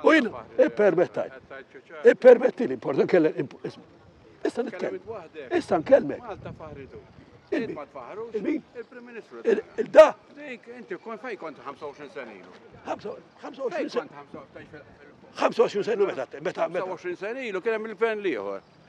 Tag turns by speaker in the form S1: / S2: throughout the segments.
S1: U jien, ippermettaj. Ippermetti li importa kellem. Issa nitkellem. Issa nkellmek. Il-Prim Ministru. Il-da. Inti kon fej kont 25 sena ilu. 25 sena. 25 sena meta meta 25 sena ilu kien hemm il-gvern liħor.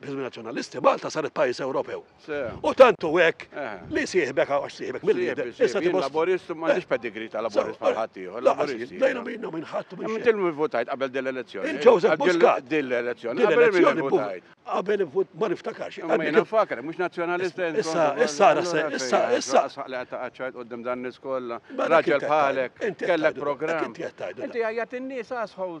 S1: B'isem Nazzjonalisti Malta saret pajjiż Ewropew. U tant hu hekk li sieħbek għax sieħbek mill-lider. Issa tibgħod. Laburist ma għandix pedigri ta' laburist bħal ħadd ieħor. Laburist. Dejna minna minn ħadd minn. Inti li votajt qabel din l-elezzjoni. Joseph Muscat. Din l-elezzjoni. Qabel minn votajt. Qabel vot ma niftakarx. Ma jiena faker, mhux nazzjonalist. Issa issa issa issa. Saqla ta' qaċċajt qudiem dan nies kollha. Raġel bħalek. Kellek programm. Inti għajjat in-nies asħol.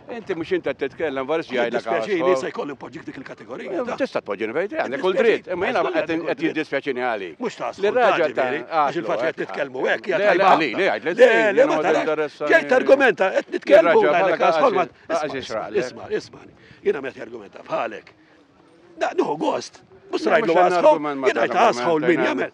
S1: Inti mhux inti qed titkellem varis jgħidlek għal. Dispjaċini se jkolli npoġġik dik il-kategorija. Tista' tpoġġini fejn trid, għandek kull dritt, imma jiena qed jiddispjaċini għali. Mhux ta' li raġa ta' għax il-fatt qed nitkellmu hekk hija tajba. Li li għid li le ma taressa. Ġejt argumenta qed nitkellmu għalek asma. Isma' isma' jiena meta argumenta bħalek. Da, nuhu gost. Mhux rajdu għasħol. Jiena għasħol min jagħmel.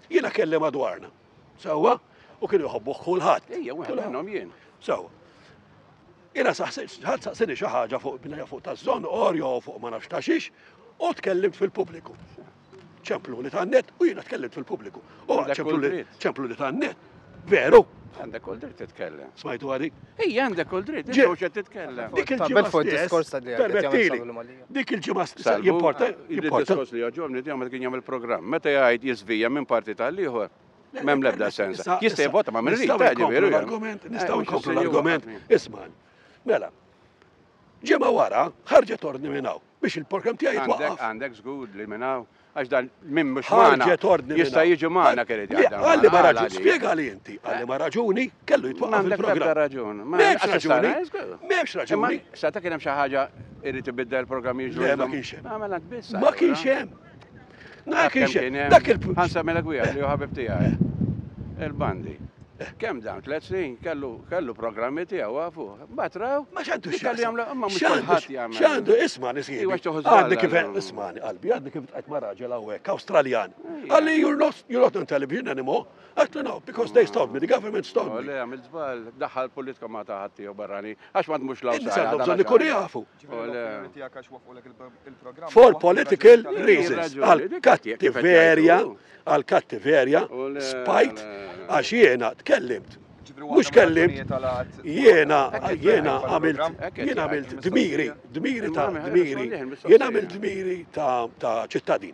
S1: Jiena kelli madwarna. Sewwa? U kienu jħobbuh kulħadd. Ejja, wieħed minnhom jien. Sewwa. Jiena ħadd saqsini xi ħaġa fuq binja fuq taż-żon orjo fuq ma nafx ta' xiex u tkellimt fil-pubbliku. ċemplu li tan-net u jiena tkellimt fil-pubbliku. U ċemplu li tan-net. Veru? Għandek kull dritt titkellem. Smajtu għadik? Ej, għandek kull dritt, ġew xe titkellem. Dik il-ġimgħa fuq diskors ta' li Dik il-ġimgħa stessa jimporta. Il-diskors li għagħomni di għamil kien jagħmel programm. Meta jgħid jizvija minn parti tal-ieħor. Mem lebda sens. Jista' jivota ma' minn rita ġifieri. Argument, nistgħu eh, nkomplu l-argument. Isma'. Mela. Ġimgħa wara ħarġet ordni minn hawn biex il-programm tiegħi jitwaqqaf. Għandek żgur li minn hawn Għax dan min mhux magħna jista' jiġi magħna kelli di għadda. Għalli ma raġuni, spjega li inti, għalli ma raġuni, kellu jitwaqqaf il-programm. raġuni. M'hemmx raġuni. M'hemmx raġuni. Sa ta' kien hemm xi ħaġa irid ibidda il-programm jiġu. Le ma kienx hemm. Għamela tbiss. Ma kienx hemm. Dak il-punt. Ħansa mela gwija li hu ħabib tiegħi. Il-bandi. Kemm dawn, tliet snin, kellu programmi tiegħu afu. Mbagħad raw. Ma x'għandu x'għandu jagħmlu, imma mhux kulħadd jagħmel. X'għandu isma' nisib. Iwa x'toħod. Għadni kif ismani qalbi, għadni kif tqajt ma' raġel hawnhekk Awstraljan. Għalli you're not you're not on television anymore. Għatlu no, because they stop me, the government stop me. Le, għamil żball, daħħal politika ma taħat tiegħu barrani, għax ma tmux l-Awstralja. Għandhom bżonn ikunu jafu. For political reasons, għal kattiverja, għal kattiverja, spajt, għax jena tkellimt. Mux kellimt, jena, jena għamilt, jena għamilt dmiri, dmiri ta' dmiri, jena għamilt dmiri ta' ċittadin.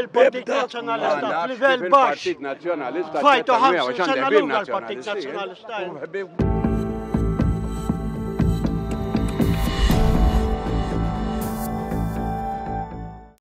S1: il-Partit Nazzjonalista f'livell baxx. Fajtu ħamsa sena l-ewwel partit Nazzjonalista.